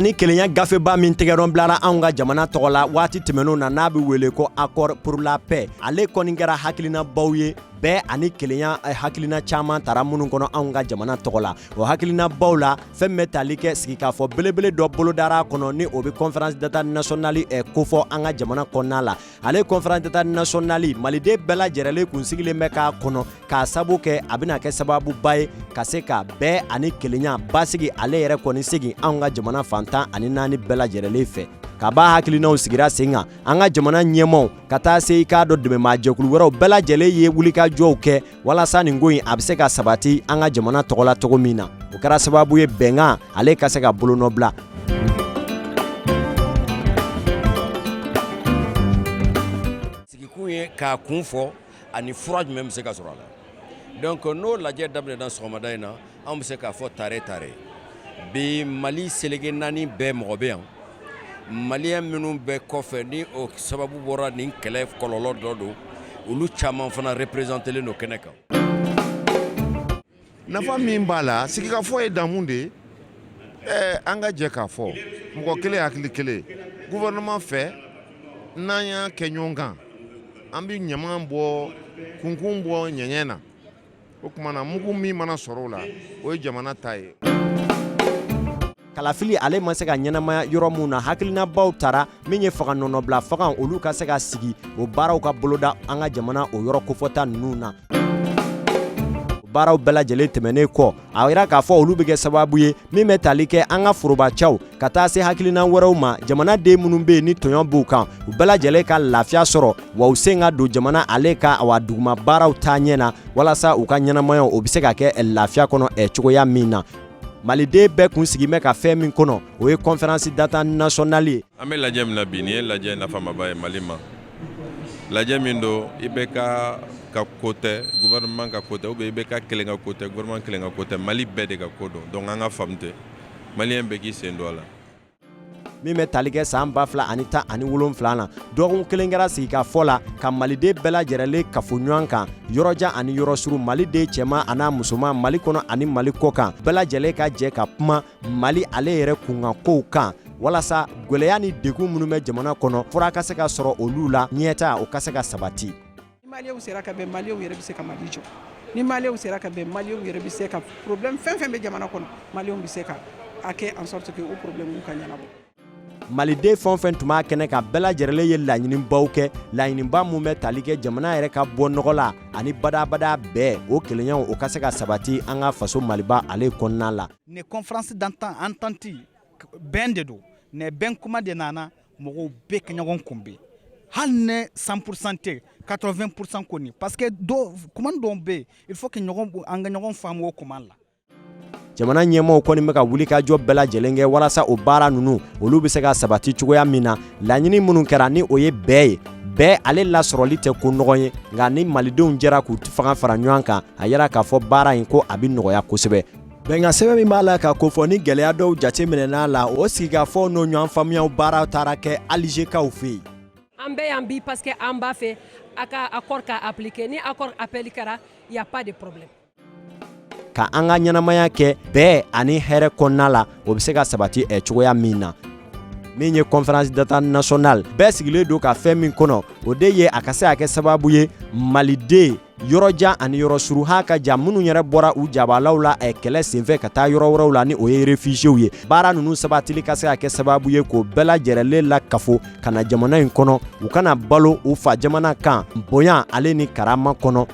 ani kelenya gafeba min tɛgɛnɔ bilara anw ka jamana tɔgɔ la waati tɛmɛnenw na n'a bɛ wele ko accord pour la paix ale kɔni kɛra hakilinabaw ye bɛn ani kelenya eh, hakilina caman tara minnu kɔnɔ anw ka jamana tɔgɔ la o hakilinabaw la fɛn bɛ tali kɛ sigikafɔ belebele dɔ bolodara kɔnɔ ni o bɛ conférence d'entente nationale eh, kofɔ an ka jamana kɔnɔna la ale conférence d'entente nationale maliden bɛɛ lajɛrɛlen kun sigilen bɛ k'a kɔnɔ k'a sabu kɛ a bɛna kɛ sababuba ye ka se ka bɛn ani kelenya basigi ale yɛrɛ kɔni segin anw ka jamana fan tan ani naani bɛɛ lajɛrɛlen fɛ kab'a hakilinaw sigira sen kan an ka jamana ɲɛmaw ka taa se i k'a dɔn dɛmɛ maajɛkulu wɛrɛw bɛɛ lajɛlen ye wulikajɔw kɛ walasa nin ko in a bɛ se ka sabati an ka jamana tɔgɔ la cogo min na o kɛra sababu ye bɛnkan ale ka se ka bolonɔ bila sigikun ye k'a kun fɔ ani fura jumɛn bɛ se ka sɔrɔ a la donc n'o lajɛ daminɛna sɔgɔmada in na Anw bɛ se k'a fɔ tare tare bi mali seleke naani bɛɛ mɔgɔ bɛ yan maliyɛn minnu bɛ kɔfɛ ni o sababu bɔra nin kɛlɛ kɔlɔlɔ dɔ don olu caman fana représentélen don kɛnɛ kan nafa min b'a la sigikafɔ ye damu de ye ɛɛ an ka jɛ k'a fɔ mɔgɔ kelen hakili kelen gouvernement fɛ n'an y'a kɛ ɲɔgɔn kan an bɛ ɲaman bɔ kunkun bɔ ɲɛɲɛ na o tuma na mugu min mana sɔrɔ o la o ye jamana ta ye kalafili ale ma se ka ɲɛnamaya yɔrɔ minnu na hakilinabaw tara min ye fanga nɔnabila fanga olu ka se ka sigi o baaraw ka boloda an ka jamana o yɔrɔ kofɔta ninnu na baaraw bɛɛ lajɛlen tɛmɛnen kɔ a yira k'a fɔ olu bɛ kɛ sababu ye min bɛ tali kɛ an ka forobacaw ka taa se hakilina wɛrɛw ma jamanaden minnu bɛ yen ni tɔɲɔ b'u kan u bɛɛ lajɛlen ka lafiya sɔrɔ wa u sen ka don jamana ale ka wa duguma baaraw taa ɲɛ na walasa u ka ɲɛnamaya o bɛ se ka kɛ lafiya kɔnɔ ɛ cogoya min na maliden bɛɛ kun sigi bɛ ka fɛn min kɔnɔ o ye conférence d'entente nationale ye an bɛ lajɛ min na bi nin ye lajɛ nafamaba ye mali ma lajɛ min don IBK ka ko tɛ gouvernement ka ko tɛ ou bien IBK kelen ka ko tɛ gouvernement kelen ka ko tɛ mali bɛɛ de ka ko don donc an k'a faamu ten maliyɛn bɛɛ k'i sen don a la min bɛ tali kɛ san ba fila ani tan ani wolonfila na dɔgɔkun kelen kɛra sigikafɔ la ka maliden bɛɛ lajɛrɛlen kafo ɲɔgɔn kan yɔrɔjan ani yɔrɔsurun maliden cɛman an'a musoman mali kɔnɔ ani mali kɔkan bɛɛ lajɛlen ka jɛ ka kuma Mali ale yɛrɛ kunkan kow kan walasa gɛlɛya ni degun minnu bɛ jamana kɔnɔ fura ka se ka sɔrɔ olu la ɲɛtaa o ka se ka sabati ni maliyɛnw sera ka bɛn maliyɛnw yɛrɛ bɛ se ka mali jɔ ni maliyɛnw sera ka bɛn maliyɛnw yɛrɛ bɛ se ka problème fɛn fɛn bɛ jamana kɔnɔ maliyɛnw bɛ se ka a kɛ en sorte que o problème ka ɲɛnabɔ maliden fɛn fɛn tun b'a kɛnɛ kan bɛɛ lajɛrɛlen ye laɲinibaw kɛ laɲiniba min bɛ tali kɛ jamana yɛrɛ ka bɔ nɔgɔ la ani badabada bɛn o kelenyaw o ka se ka sabati an ka faso maliba ale kɔnɔna la ni conférence d'entente bɛn de don ni bɛn kuma de nana mɔgɔw bɛɛ ka ɲɔgɔn kunbɛn hali ni 100% tɛ 80% kɔni parce que kuma dɔw bɛ yen il faut que an ka ɲɔgɔn faamu o kuma la jamana ɲɛmaaw kɔni bɛ ka wulikajɔ bɛɛ lajɛlen kɛ walasa o baara ninnu olu bɛ se ka sabati cogoya min na laɲini minnu kɛra ni o ye bɛn ye bɛn ale lasɔrɔli tɛ ko nɔgɔn ye nka ni malidenw jɛra k'u fanga fara ɲɔgɔn kan a yira k'a fɔ baara in ko a bɛ nɔgɔya kosɛbɛ bɛnkan sɛbɛn min b'a la ka kofɔ ni gɛlɛya dɔw jateminɛna la o sigikafɔ n'o ɲɔgɔn faamuyaw baara taara kɛ alizekaw fɛ yen an bɛ yan bi parce que an b'a fɛ a ka accord ka appliquer ni accord appliquera il y a pas de problème Ka an ka ɲɛnamaya kɛ bɛn ani hɛrɛ kɔnɔna la o bɛ se ka sabati ɛ cogoya min na min ye conférence d'entente nationale bɛɛ sigilen don ka fɛn min kɔnɔ o de ye a ka se ka kɛ sababu ye maliden yɔrɔjan ani yɔrɔsurun ha ka ja minnu yɛrɛ bɔra u jabalaw la ɛ kɛlɛ senfɛ ka taa yɔrɔ wɛrɛw la ni o ye réfugiés ye baara ninnu sabatili ka se ka kɛ sababu ye k'o bɛɛ lajɛrɛlen lakafo ka na jamana in kɔnɔ u ka na balo u fa jamana kan bonya ale ni karama kɔnɔ